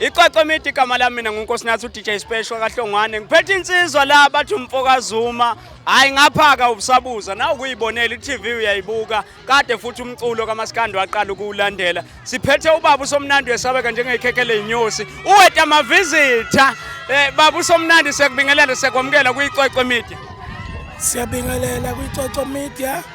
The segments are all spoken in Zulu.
Ixoxo midi igama lami mina nguNkosinathi uDJ Special kaHlongwane. Ngiphethe insizwa la bathi umfokazuma. Hayi ngaphaka ubusabuza nawe kuyibonela iTV uyayibuka. Kade futhi umculo kaMaskandi waqala ukuwulandela. Siphethe ubaba usomnandi wesabeka njengekhekhe leinyosi. Uweta amavizitha. Eh baba usomnandi sekubingelela sekwamukela kuyixoxo midi. Siyabingelela kuyixoxo media.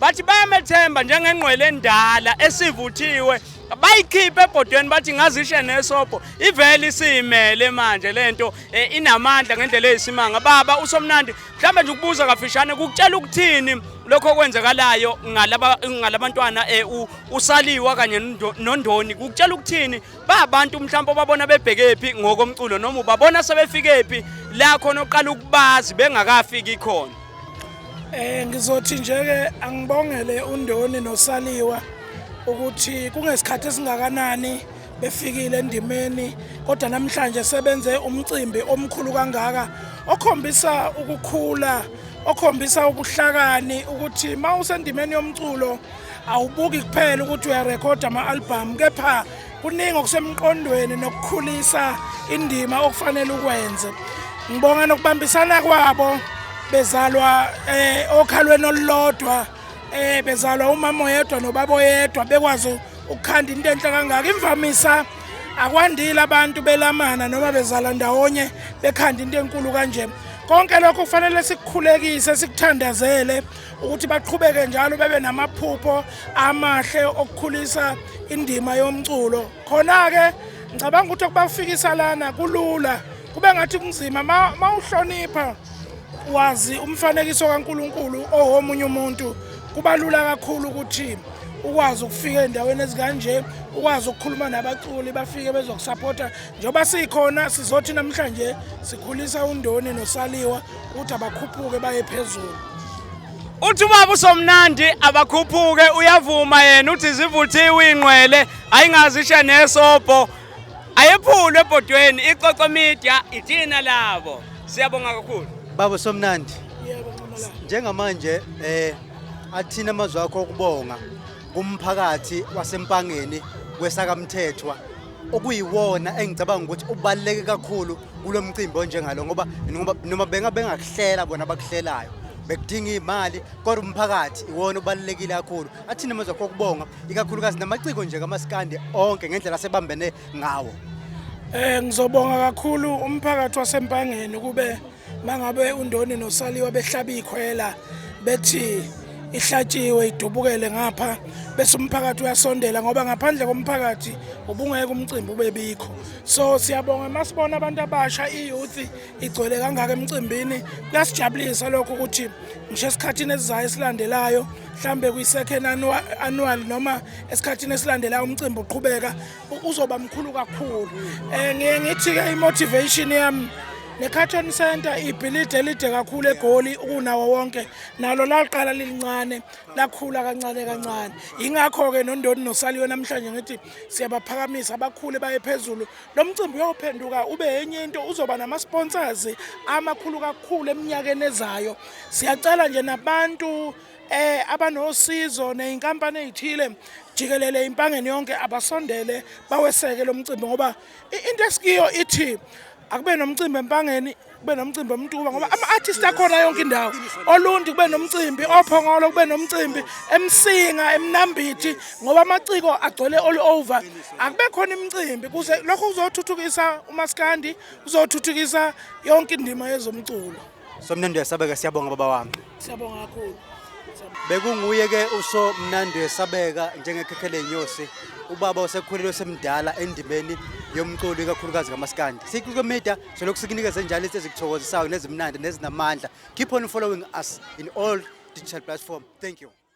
bathi bayamethemba njengengqwele endala esivuthiwe bayikhiphe ebhodweni bathi ngazishe nesobho ivele isiyimele manje lento e, inamandla ngendlela eyisimanga baba usomnandi mhlawumbe nje ukubuza kafishane kukutshela ukuthini lokho okwenzekalayo ngalabantwana e, usaliwa kanye nondoni kukutshela ukuthini babantu mhlawumbe babona bebhekephi ngokomculo noma ubabona sebefikephi la khona oqala ukubazi bengakafiki khona Eh ngizothi nje ke angibongele uNdoni noSaliwa ukuthi kungesikhathi esingakanani befikile endimeni kodwa namhlanje sebenze umcimbi omkhulu kangaka okhombisa ukukhula okhombisa ubuhlakani ukuthi uma usendimeni yomculo awubuki kuphela ukuthi uyarekhoda ama-albhamu kepha kuningi okusemqondweni nokukhulisa indima okufanele ukwenze ngibonga nokubambisana kwabo bezalwa eh okhalweni olulodwa eh bezalwa umama oyedwa nobaba oyedwa bekwazi ukukhanda into enhle kangaka imvamisa akwandile abantu belamana noma bezala ndawonye bekhanda into enkulu kanje konke lokho kufanele sikukhulekise sikuthandazele ukuthi baqhubeke njalo bebe namaphupho amahle okukhulisa indima yomculo khona-ke ngicabanga ukuthi okubafikisa lana kulula kube ngathi kunzima ma uhlonipha wazi umfanekiso kaNkuluNkulu owomunye umuntu kubalula kakhulu ukuthi ukwazi ukufika endaweni ezikanje ukwazi ukukhuluma nabaculi bafike bezokusapota njengoba sikhona sizothi namhlanje sikhulisa undoni nosaliwa ukuthi abakhuphuke baye phezulu uthi ubaba usomnandi abakhuphuke uyavuma yena uthi zivuthiwe ingqwele ayingazisha nesobho ayephulwe ebhodweni ixoxo media ithina labo siyabonga kakhulu baba usomnandi njengamanje eh athina amazwi akho okubonga kumphakathi wasempangeni kwesakamthethwa okuyiwona engicabanga ukuthi ubaluleke kakhulu kulo mcimbi onjengalo ngoba noma benga bengakuhlela bona abakuhlelayo bekudinga imali kodwa umphakathi iwona ubalulekile kakhulu athina manje kokubonga ikakhulukazi namaciko nje kamaskandi onke ngendlela sebambene ngawo eh ngizobonga kakhulu umphakathi wasempangeni kube mangabe undoni nosaliwa behlaba ikhwela bethi ihlatshiwe idubukele ngapha bese umphakathi uyasondela ngoba ngaphandle komphakathi ubungeke umcimbi ubebikho so siyabonga masibona abantu abasha iyouth igcwele kangaka emcimbini kuyasijabulisa lokho ukuthi ngisho esikhathini esizayo esilandelayo mhlambe kwi-second annual noma esikhathini esilandelayo umcimbi uqhubeka uzoba mkhulu kakhulu um ngiye ngithi-ke i-motivation yami ne-carton center ibhilidi elide kakhulu egoli ukunawo wonke nalo laqala lilincane lakhula kancane kancane yingakho-ke nondoni nosaliwe namhlanje ngithi siyabaphakamisa bakhule baye phezulu lo mcimbi uyophenduka ube enye into uzoba nama-sponsors amakhulu kakhulu eminyakeni ezayo siyacela nje nabantu eh abanosizo nezinkampani ezithile jikelele impangeni yonke abasondele baweseke lo mcimbi ngoba into esikiyo ithi akube nomcimbi empangeni kube nomcimbi omtuba ngoba ama-artist akhona yonke indawo olunti kube nomcimbi ophongolo kube nomcimbi emsinga emnambithi ngoba amaciko agcwele all over akube khona imicimbi kuze lokho kuzothuthukisa umaskandi kuzothuthukisa yonke indima yezomculo Somnandi uyasabeka siyabonga baba wami. Siyabonga kakhulu. Bekunguye ke uso mnandi wesabeka njengekhekhe lenyosi ubaba osekhulile osemdala endimeni yomculo ikakhulukazi kamaskandi. Sikho media solokhu sikunikeza njalo into ezikuthokozisayo nezimnandi nezinamandla. Keep on following us in all digital platform. Thank you.